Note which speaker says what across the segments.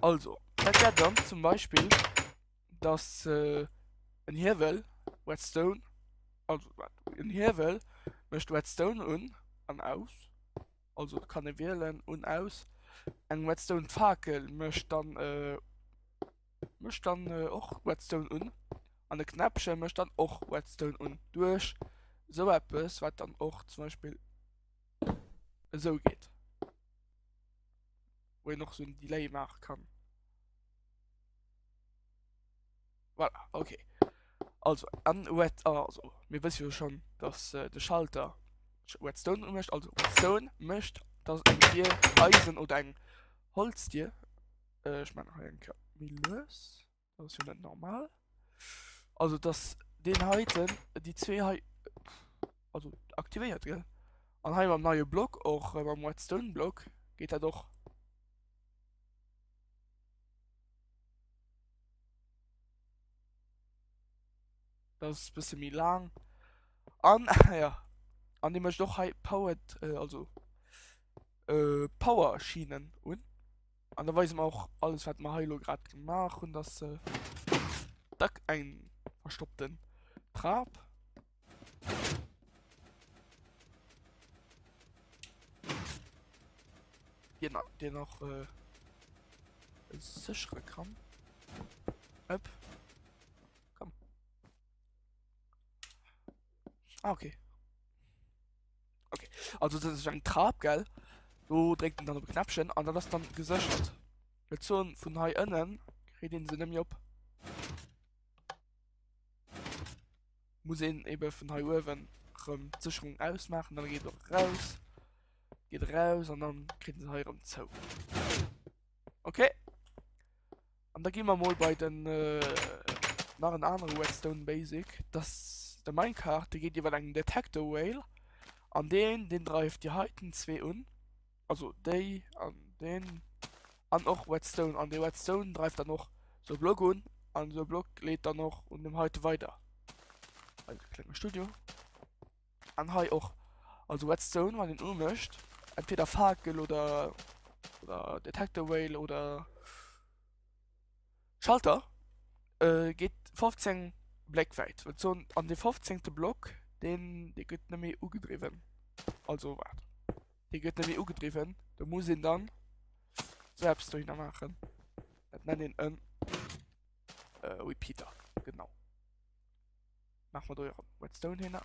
Speaker 1: Also, dat wär dann zum Beispill, dass äh, en Hiewel Redstone, also en Hiewel mécht Redstone un an aus, also kann e wielen un aus, eng Redstone Fakel mécht dann äh, mécht dann äh, och Redstone un an e Knäppchen mécht dann och Redstone un duerch esou eppes, wat dann och zum Beispill esou geet. wou een och so en Delay maache kann. Voilà, okay. Also, an Red, ah, also, mir wësse jo schon, dass äh, de Schalter Redstone mécht, also Redstone mécht, dass eng Dir Eisen oder eng Holzdir, äh, ich meine, eng Mille. Dat ass jo net normal. Also dass den heiten, déi zwee hei, also aktivéiert gell. An hei mam neie Block och äh, mam Redstone Block geet dat och. Dat ass bësse méi lang. An ja, an dee mécht och hei powered, äh, also äh, Power Schienen un. An da weise mer och alles wat mer hei lo grad gemaach hunn, dass se dack eng verstoppten Trap. Den, den nach äh, sichere kann. Öp. Ah, okay. Okay. Also das ist ein Trab, gell? So drückt man dann auf Knäppchen und dann ist dann gesichert. Mit so von hier innen kriegt den sie nämlich ab. Muss ihn eben von hier oben rum die Sicherung ausmachen, dann geht er raus. Geht raus und dann kriegt sie hier rum zu. Okay. An da gi mer mol bei den nach en anere Redstone Basic. Das de Minecart, de geet iwwer engem Detector Rail an deen den dreift Dir heiten zwee un. Also déi an den an och Redstone an de Redstone dreift dann och so Block un an so Block leet dann och un dem heite weider. Ein klenge Studio. An hei och, also Redstone wann een umécht, entweder Fakel oder oder Detector Rail oder Schalter, äh geet 15 Bléck wäit. Wat soen an de 15 te Block deen dee gëtt nëmme ugedriwwen. Also waart. Dee gëtt nëmme ugedriwwen, do muss een dann sou eppes dohinner maachen. Dat nennt een en äh Repeater, genau. Mach mal do jo Redstone hin.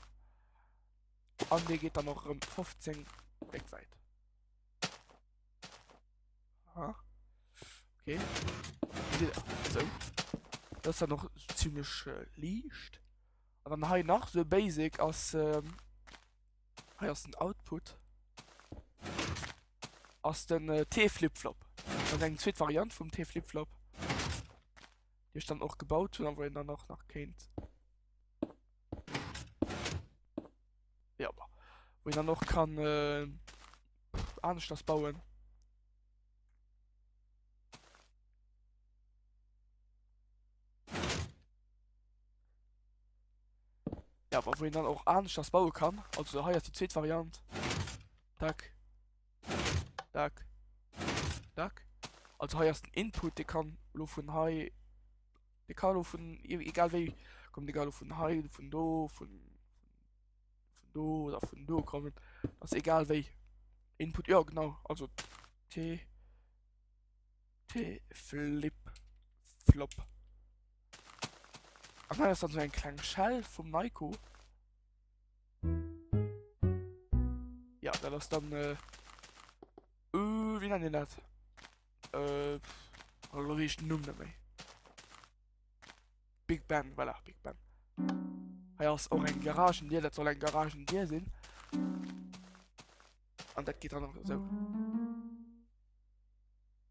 Speaker 1: An dee geet dann och rëm 15 weg seit. Aha. Okay. So. Dat ass dann noch ziemlech äh, liicht. An dann hei nach so basic ass ähm, hei ass den Output ass den äh, T-Flipflop. Dat eng zweet Variant vum T-Flipflop. déi ech dann och gebaut hunn a wou een dann och nach kéint ja bah, wou een dann och kann äh, anesch das bauen Ja, aber wo een dann och anesch das baue kann also heiers die zweet Variant tak. Dack. Dack. Also hei ass den Input, de kann lo vun hei. De kann lo vun e-, egal wéi kommen, egal ob vun hei, vun do, vun vun do oder vun do kommen. Ass egal wéi. Input, ja genau, also T. T Flip Flop. Ach nei ass dann so eng kleng Shell vum Nyko. Ja, dat ass dann äh, uh, wie nennen dat? Äh, lo wees den Numm net méi. Big Ben, voilà, Big Ben. Hei ass och eng Garagen Dir, dat soll eng Garagen Dir sinn. An dat geht dann noch so.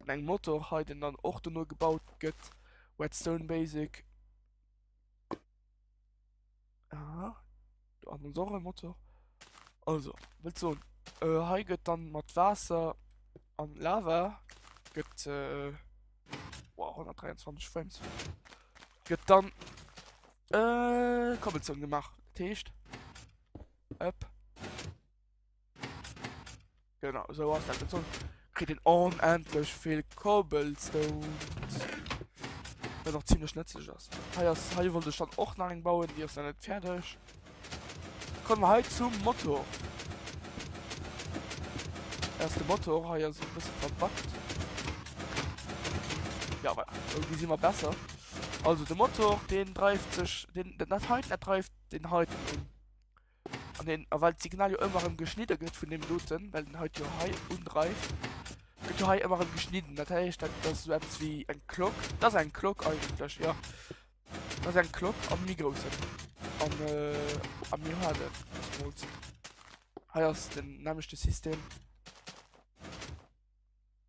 Speaker 1: An engem Motor hei den dann och dono gebaut gëtt, Whetstone Basic. Aha, do ass ons och e Motor. Also, wëllt soen, äh, hei gëtt dann mat Waasser an Lava gëtt äh, wow, 123 Frames, gëtt dann äh, Cobblestone gemaach. Dat heescht, ëpp. Genau, esou ass dat. An soss kritt een onendlech vill Cobblestones. Dat och ziemlech nëtzlech ass. Hei ass, hei wollt ech dann och nach eng bauen, déi ass dann net fäerdeg. Kommen wir hei zum Motor. Da ass de Motor hei ass e bësse verbackt. Ja, voilà. Irgendwie si mer besser. Also de Motor, deen dreift sech, deen, dat heiten, dat dreift den heiten un. An den, a well d'Signal jo ëmmer erëm geschnidde gëtt vun deem doten, well den hait jo hei undreift, gëtt jo hei ëmmer erëm geschnidden. Dat héicht, dat ass esou eppes wéi eng Klock. Dat ass eng Klock eigentlech, jo. Dat ass eng Klock am méi groussen. An, a mir hu dat zemools. Hei ass den nämmlechte System.